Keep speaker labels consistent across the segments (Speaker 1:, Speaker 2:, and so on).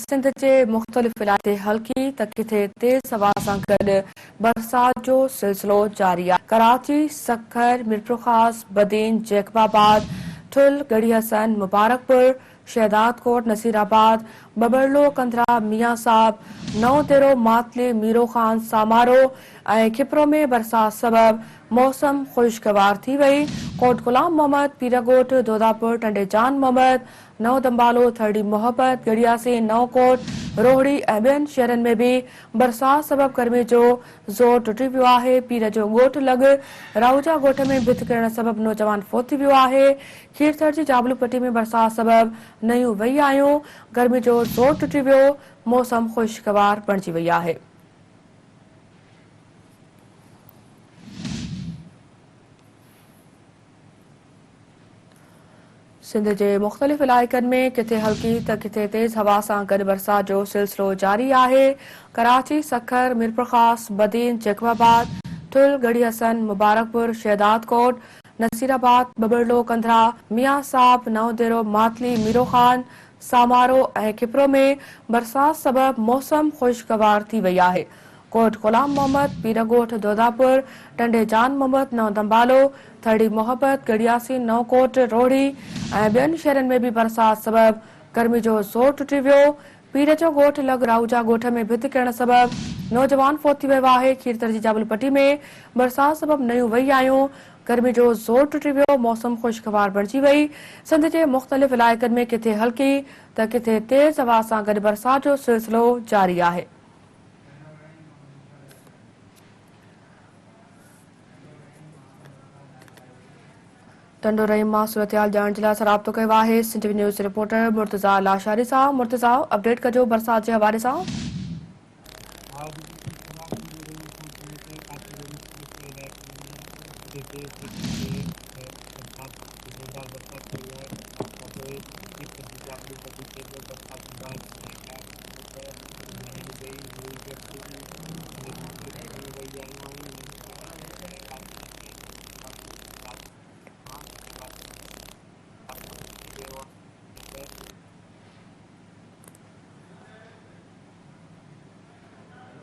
Speaker 1: سنڌ جي مختلف علائقن تي هلڪي ته ڪٿي تيز هوا سان گڏ برسات جو سلسلو جاري آهي. ڪراچي، سکر، ميرپورخاص، بدين، جيڪب آباد، ٺل، ڳڙهي حسن، مبارڪپور، شهدادڪوٽ، نصيرآباد، ٻٻرلو، ڪنڌرا، ميان صاحب، نئون ديرو، ماتلي، ميرو خان، سامارو ۽ کپرو ۾ برسات سبب موسم خوشگوار ٿي وئي. ڪوٽ غلام محمد، پيرڳوٺ، دوداپور، ٽنڊي جان محمد، نئون تنبالو، ٿرڙي محبت، ڳڙهياسين، نئون ڪوٽ، روهڙي ۽ ٻين شهرن ۾ به برسات سبب گرمي جو زور ٽٽي پيو آهي، پير جو ڳوٺ لڳ راهوجا ڳوٺ ۾ ڀت ڪرڻ سبب نوجوان فوت ٿي ويو آهي، کيرٿر جي جابلو پٽي ۾ برسات سبب نيون وهي آيون، گرمي جو زور ٽٽي ويو، موسم خوشگوار بڻجي وئي آهي. سنڌ جي مختلف علائقن ۾ ڪٿي هلڪي ته ڪٿي تيز هوا سان گڏ برسات جو سلسلو جاري آهي. ڪراچي، سکر، ميرپورخاص، بدين، جيڪب آباد، ٺل، ڳڙهي حسن، مبارڪپور، شهدادڪوٽ، نصير آباد، ٻٻرڙو، ڪنڌرا، ميان صاحب، نئون ديرو، ماتلي، ميرو خان، سامارو ۽ کپرو ۾ برسات سبب موسم خوشگوار ٿي وئي آهي. ڪوٽ غلام محمد، پير ڳوٺ دوداپور، ٽنڊي جان محمد، نئون دنبالو، ٿرڙي محبت، ڳڙهياسين، نئون ڪوٽ، روهڙي ۽ ٻين شهرن ۾ به برسات سبب گرمي جو زور ٽٽي ويو. پير جو ڳوٺ لڳ راهوجا ڳوٺ ۾ ڀت ڪرڻ سبب نوجوان فوت ٿي ويو آهي. کيرٿر جي جابل پٽي ۾ برسات سبب نيون وهي آيون، گرمي جو زور ٽٽي ويو، موسم خوشگوار بڻجي وئي. سنڌ جي مختلف علائقن ۾ ڪٿي هلڪي ته ڪٿي تيز هوا سان گڏ برسات جو سلسلو جاري آهي. ٽنڊو رحيم مان صورتحال ڄاڻڻ جي لاء اسان رابطو ڪيو آهي Sindh T V news reporter Murtaza Lashari سان مرتضيٰ اپڊيٽ ڪجو برسات جي حوالي سان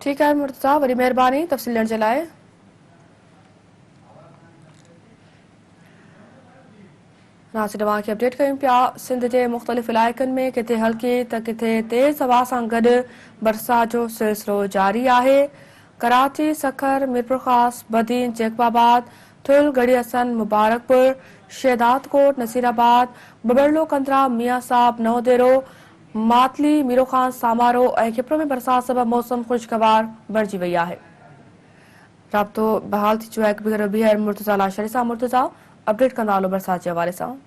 Speaker 1: ٺيڪ آهي مرتضا وڏي مهرباني تفصيل ڏيڻ جي لاء ناصر اوهان کي اپڊيٽ ڪيون پيا سنڌ جي مختلف علائقن ۾ ڪٿي هلڪي ته ڪٿي تيز هوا سان گڏ برسات جو سلسلو جاري آهي ڪراچي، سکر، ميرپورخاص، بدين، جيڪب آباد، ٿل، ڳڙهي حسن، مبارڪپور، شهدادڪوٽ، نصيرآباد، ٻٻرلو ڪنڌرا، ميان صاحب، نئون ديرو، ماتلي، ميروخان، سامارو ۽ کپرو ۾ برسات سبب موسم خوشگوار بڻجي وئي آهي. رابطو بحال ٿي چڪو آهي ڪبير ربيع ۽ مرتضيٰ لاشاري سان مرتضيٰ اپڊيٽ ڪندا هلو برسات جي حوالي سان.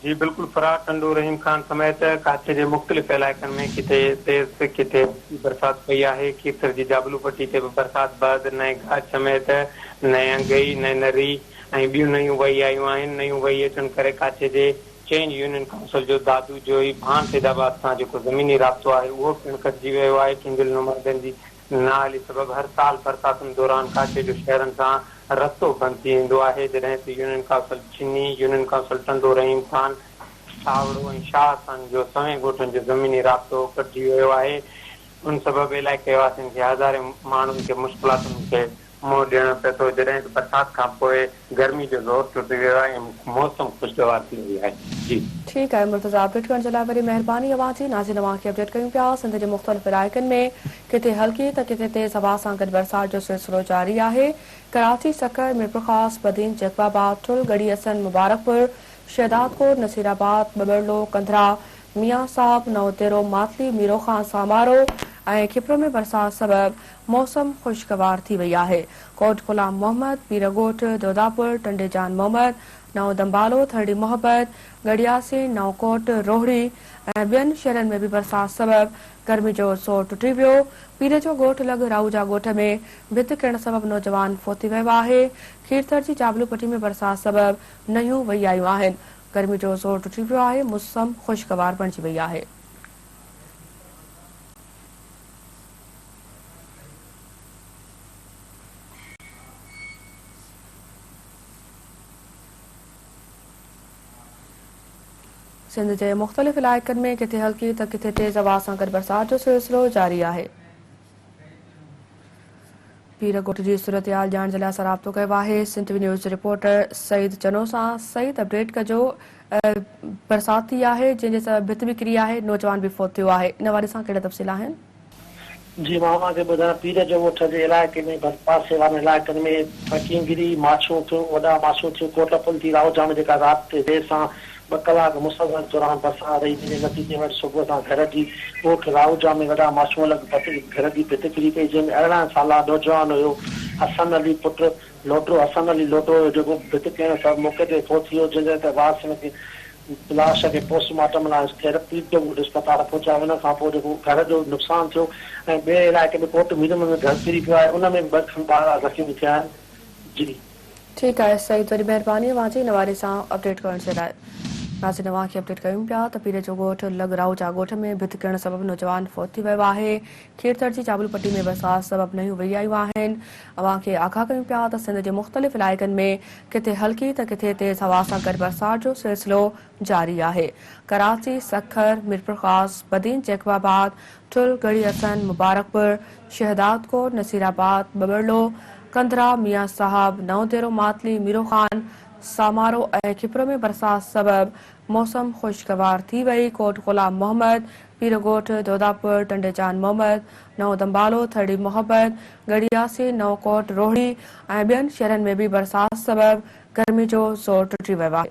Speaker 1: جي
Speaker 2: بلڪل فرار ٽنڊو رحيم خان سميت ڪاڇي جي مختلف علائقن ۾ ڪٿي تيز ته ڪٿي هلڪي برسات پئي آهي کيرٿر جي جابلو پٽي تي به برسات بعد نئين گاهه سميت نئين انگئي نئين نري ۽ ٻيون نيون وهي آيون آهن نيون وهي اچڻ ڪري ڪاڇي جي چئن يونين ڪائونسل جو دادو جوئي ڀان سيدآباد سان جيڪو زميني رابطو آهي اهو پڻ ڪٽجي ويو آهي ٽنڊل نمادن جي نااهلي سبب هر سال برساتن دوران ڪاڇي جو شهرن سان رستو بند ٿي ويندو آهي، جڏهن ته يونين ڪائونسل جني، يونين ڪائونسل ٽنڊو رحيم خان، ساوڙو ۽ شاهه خان جو سوين ڳوٺن جو زميني رابطو ڪٽجي ويو آهي، ان سبب علائقي واسين کي هزارين ماڻهن کي مشڪلاتن کي منهن ڏيڻو پئي ٿو جڏهن ته برسات کان پوء گرمي جو زور ٽٽي ويو آهي ۽ موسم خوشگوار ٿي وئي آهي جي. ٺيڪ آهي مرتضيٰ
Speaker 1: اپڊيٽ ڪرڻ جي لاء وڏي مهرباني اوهان جي ناظرين اوهان کي اپڊيٽ ڪيون پيا سنڌ جي مختلف علائقن ۾ ڪٿي هلڪي ته ڪٿي تيز هوا سان گڏ برسات جو سلسلو جاري آهي ڪراچي سکر ميرپورخاص بدين جيڪب آباد ٺل ڳڙهي اسن مبارڪپور شهدادڪوٽ نصيرآباد ٻٻرڙو ڪنڌرا ميان صاحب نئون ديرو ماتلي ميرو خان سامارو ۽ کپرو ۾ برسات سبب موسم خوشگوار ٿي وئي آهي، ڪوٽ غلام محمد، پير ڳوٺ، دوداپور، ٽنڊي جان محمد، نئون دنبالو، ٿرڙي محبت، ڳڙهياسين، نئون ڪوٽ، روهڙي ۽ ٻين شهرن ۾ به برسات سبب گرمي جو زور ٽٽي ويو، پير جو ڳوٺ لڳ راهوجا ڳوٺ ۾ ڀت ڪرڻ سبب نوجوان فوت ٿي ويو آهي، کيرٿر جي جابلو پٽي ۾ برسات سبب نهيون وهي آيون آهن، گرمي جو زور ٽٽي ويو آهي، موسم خوشگوار بڻجي وئي آهي. سنڌ جي مختلف علائقن ۾ ڪٿي هلڪي ته ڪٿي تيز هوا سان گڏ برسات جو سلسلو جاري آهي. پير ڳوٺ جي صورتحال ڄاڻڻ جي لاء اسان رابطو ڪيو آهي سنڌ وي نيوز جي رپورٽر سعيد چنو سان سعيد اپڊيٽ ڪجو برسات ٿي آهي جنهن جي سبب ڀت به ڪري آهي نوجوان به فوت ٿيو آهي ان حوالي سان ڪهڙا تفصيل آهن. جي
Speaker 3: مان اوهان کي ٻڌايان پير جو ڳوٺ جي علائقي ۾ ڀرپاسي وارن علائقن ۾ ڦڪينگري، ماڇو ٿيو، وڏا ماڇو ٿيو، ڪوٽ پل ٿي راهو جام جيڪا رات دير سان ٻه ڪلاڪ مسلسل دوران برسات رهي جنهن جي نتيجي ۾ اڄ صبح سان گهر جي ڳوٺ راهوجا ۾ وڏا ماشون لڳ ڀت گهر جي ڀت ڪري پئي جنهن ۾ ارڙهن سالا نوجوان هيو حسن علي پٽ لوٽرو حسن علي لوٽرو هيو جيڪو ڀت ڪرڻ سبب موقعي تي فوت ٿي ويو جنهن تي وارثن کي لاش کي پوسٽ مارٽم لاء ٿيرپي ڊگهوٽ اسپتال پهچايو ان کان پوء جيڪو گهر جو نقصان ٿيو ۽ ٻئي علائقي ۾ ڪوٽ ميرمن ۾ گهر ڪري پيو آهي ان ۾ به ٻه کن ٻارڙا زخمي ٿيا آهن جي ٺيڪ آهي سعيد
Speaker 1: وڏي مهرباني اوهان جي هن واري سان اپڊيٽ ڪرڻ جي لاء ناظرين اوهان کي اپڊيٽ ڪيون پيا ته پير جو ڳوٺ لڳ راهوجا ڳوٺ ۾ ڀت ڪرڻ سبب نوجوان فوت ٿي ويو آهي کيرٿر جي چابل پٽي ۾ برسات سبب نيون وهي آيون آهن اوهان کي آگاهه ڪيون پيا ته سنڌ جي مختلف علائقن ۾ ڪٿي هلڪي ته ڪٿي تيز هوا سان گڏ برسات جو سلسلو جاري آهي ڪراچي سکر ميرپورخاص بدين جيڪب آباد ٺل، ڳڙهي حسن، مبارڪپور، شهدادڪوٽ، نصيرآباد، ٻٻرڙو، ڪنڌرا، ميان صاحب، نئون ديرو، ماتلي، ميرو خان، سامارو ۽ کپرو ۾ برسات سبب موسم خوشگوار ٿي وئي، ڪوٽ غلام محمد، پيرڳوٺ، دوداپور، ٽنڊي جان محمد، نئون دنبالو، ٿرڙي محبت، ڳڙهي ياسين، نئون ڪوٽ، روهڙي ۽ ٻين شهرن ۾ به برسات سبب گرمي جو زور ٽٽي ويو آهي.